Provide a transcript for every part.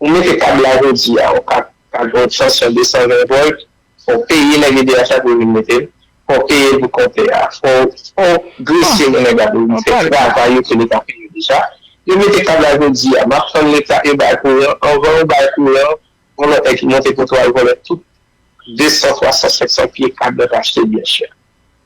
Ou mete kab la jodi a, ou ka kab yon ekstansyon 220 volt, fò w peye nèg edh a pou yo vin mete l, fò w peye l pou konte a, fò w grese yon nèg a pou l vin fè travay yo ke leta peye yo deja. Yo mete kab la jodi a, m ap tann leta yo bay kouran, anvan yo bay kouran, vòlòtè ki monte poto al vòlè tout 200, 300, 500 pye kab nan ta achte l byen chè.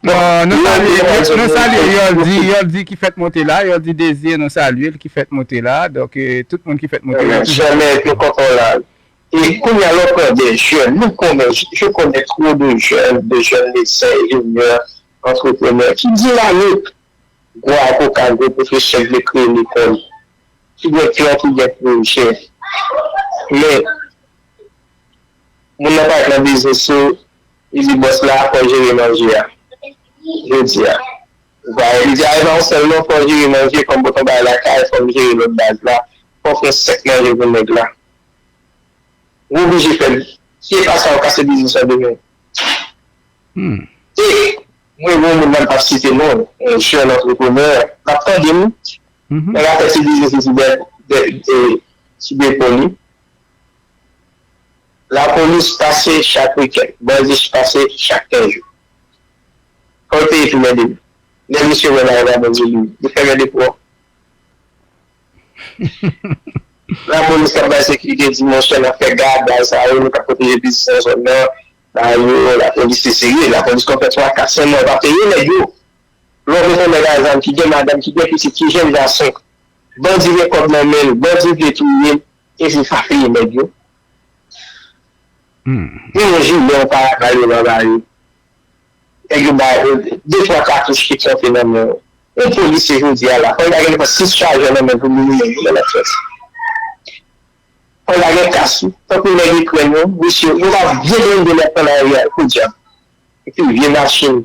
Bon nou salye nou salye Yoldy Yoldy ki fèt monte la Yoldy Désir nou salye l ki fèt monte la donk tout moun ki fèt monte la ki fèt monte la Amen chè mè nou kontan w la e kounya lè w pran de jèn nou konnen je connais trop de jeunes de jeunes médecins ingénieurs entrepreneurs ki dinamik gwo avoka gwo pwofesè vle kreye lekòl ki gen plan ki gen pwojè men Moun nan pa nan biznis ou li di bòs la fòw jere manje a jodia ou pa wè li di a epa ou sèl non fòw jere manje fòm pot on bagay lakay fòm jere lòt baz la fòw fè sèk manje pou nèg la ou oblije fè si epa sa ou kase biznis lan demen e mwen gen yon moun la m pap site non yon jèn antreprenè lap tande m nan lap fè ti biznis li sou dèt sou depo li. Lapolis pase chak wikenn, bandi pase chak kenz jou. Fòl peyi tou mède wi. Lè misye wè Marva Bondye li li fèmen depo an. Lapolis kap bay sekirite di monchè nap fè gad bagay sa yo nou kap pwoteje biznis nan zòn nan bay yo lapolis se serye lapolis konn fè 3 4 5 mwa yo pa peye nèg yo lè w bezwen nèg a zam ki gen madanm ki gen pitit ki jenn gason Bandi gen kob nan menl bandi vle touyel epi pa peye neg yo Yon jile yon paraval yo pa bayo neg yo bay de twa katouch ki trete nan men yo yon polisye jodia la fòk ta gen nan 6 chajè nan men pou liminen yo nan fòs fòk ta gen kas wi tankou neg ikrèn yo misye yo pa byen blende lèp an aryèl podyab epi vye machin.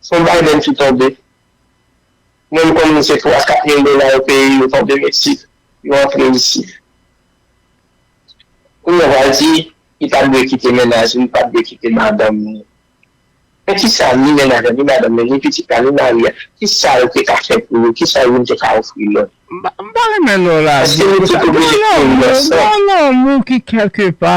Son Biden ki tonbe. Mwen m konn se 3 a 4 mil dola yo peye yo tonbe Mexique yo antre isit. Kounya w pral di li pat dwe kite mennaj li, li pat dwe kite madanm li. Men kisa ni mennaj la, ni madanm li, ni pitit la, ni mari a, kisa yo te ka fè pou yo, kisa youn te ka ofri lòt? M pa renmen lè w lage m konsa. Gen lanmou, gen lanmou ki kèlke pa